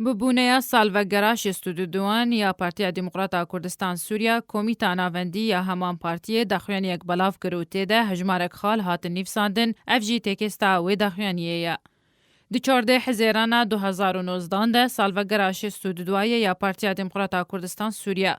Bi bûneya salvegera şêst û du duan ya Partiya Demokrat a Kurdistan Sûriya, Komîta Navendî ya heman partiyê daxuyaniyek belav kir û tê de hejmarek xal hatin nîvsandin, ev jî têkêsta wê daxuyaniyê ye. Di çardeh Hizêrana du hezar û nozdan de salvegera şêst û du duayê ya Partiya Demokrat a Kurdistan Sûriya,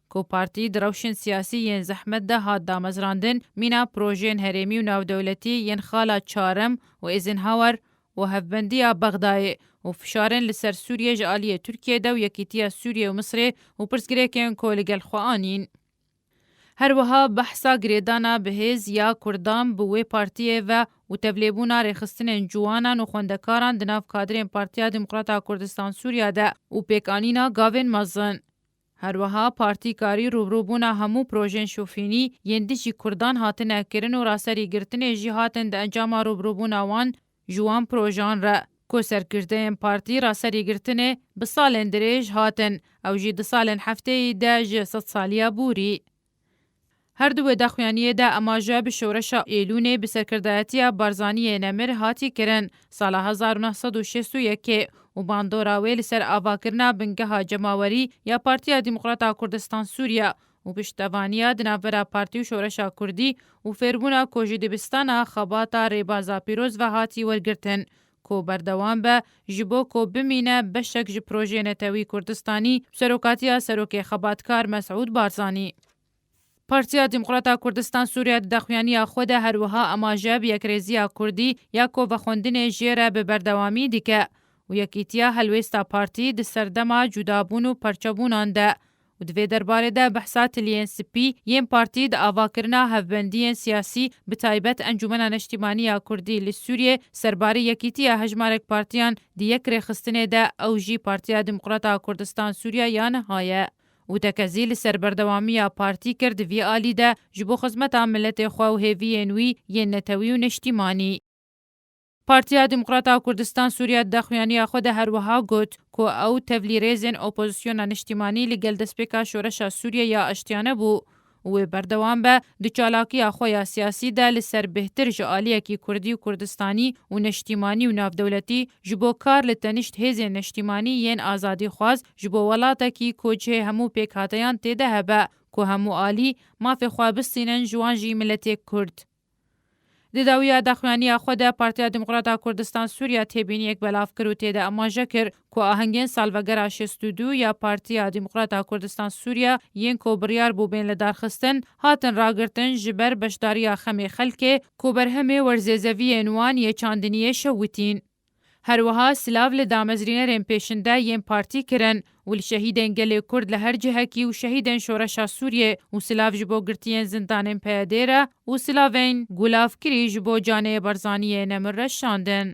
Ku partî di rewşên siyasî yên zehmet de hat damezrandin, mîna projeyên herêmî û navdewletî yên xala Çarim û Eisenhower û hevbendiya Bexdayê û fişarên li ser Sûriyê ji aliyê Tirkiyê de û yekîtiya Sûriyê û Misrê û pirsgirêkên ku li gel xwe anîn. Her wiha behsa girêdana bi hêz ya Kurdan bi wê partiyê ve û tevlêbûna rêxistinên ciwanan û xwendekaran di nav kadrên Partiya Demokrata Kurdistan-Sûriya de û pêkanîna gavên mezin, Herwiha partî karî rûbrûbûna hemû projeyên şofînî yên dijî kurdan hatine kirin û raserî girtinê jî hatin di encama rûbrûbûna wan ji wan projeyan re ku serkirdeyên partî raserî girtinê bi salên dirêj hatin ew jî di salên hefteyî de ji sedsalîya bûrî Her du wê daxuyaniyê de emaje bi şoreşa Êlûnê bi serkirdayetiya Barzaniyê Nemir hatî kirin sala hezar û neh sed û şêst û yekê û bandora wê li ser avakirina bingeha cemawerî ya Partiya Demokrata Kurdistan Sûriye û piştevaniya di navbera partî û şoreşa kurdî û fêrbûna ku ji dibistana xebata Rêbaza Pîroz ve hatî wergirtin ku berdewam be ji bo ku bimîne beşek ji Projeyê Netewî Kurdistanî bi serokatiya Serokê Xebatkar Mesûd Barzanî. Partiya Demokrata Kurdistan Sûriye di daxuyaniya xwe de her wiha amaje bi yekrêziya Kurdî ya ku vexwendinê jê re bi berdewamî dike û yekîtiya helwêsta partî di serdema cudabûn û parçebûnan de û di vê derbarê de behsa tiliyên spî yên partî di avakirina hevbendiyên siyasî bi taybet Encûmena Neştîmanî ya Kurdî li Sûriyê serbarî yekîtiya hejmarek partiyan di yek rêxistinê de ew jî Partiya Demokrata Kurdistan-Sûriya ya niha ye û tekezî li ser berdewamiya partî kir di vî alî de ji bo xizmeta miletê xwe û hêviyên wî yên netewî û neştîmanî. Partiya Demokrat a Kurdistan Sûriya di daxuyaniya xwe de her wiha got ku ew tevlîrêzên opozisyona niştîmanî li gel destpêka Şoreşa Sûriye ya Aştiyane bû û wê berdewam be di çalakiya xwe ya siyasî de li ser bêhtir ji aliyekî kurdî û kurdistanî û neştîmanî û navdewletî ji bo kar li tenişt hêzên neştîmanî yên azadîxwaz ji bo welatekî ku cihê hemû pêkhateyan tê de hebe ku hemû alî mafê xwe bistînin ji wan jî miletê kurd. Di dawiya daxuyaniya xwe de Partiya Demokrat a Kurdistan Sûriya têbîniyek belav kir û tê de amaje kir ku ahengên salvegera şêst û du ya Partiya Demokrat a Kurdistan Sûriya yên ku biryar bû bên lidarxistin, hatin ragirtin ji ber beşdariya xemê xelkê ku berhemê werzêzeviyên wan yê çandiniyê şewitîn. Her wiha silav li damezrînerên pêşinde yên partî kirin û li şehîdên gelê Kurd li her cihekî û şehîdên Şoreşa Sûriyê û silav ji bo girtiyên zindanên PYD'ê re û silavên gulavkirî ji bo canê Barzaniyê nemir re şandin.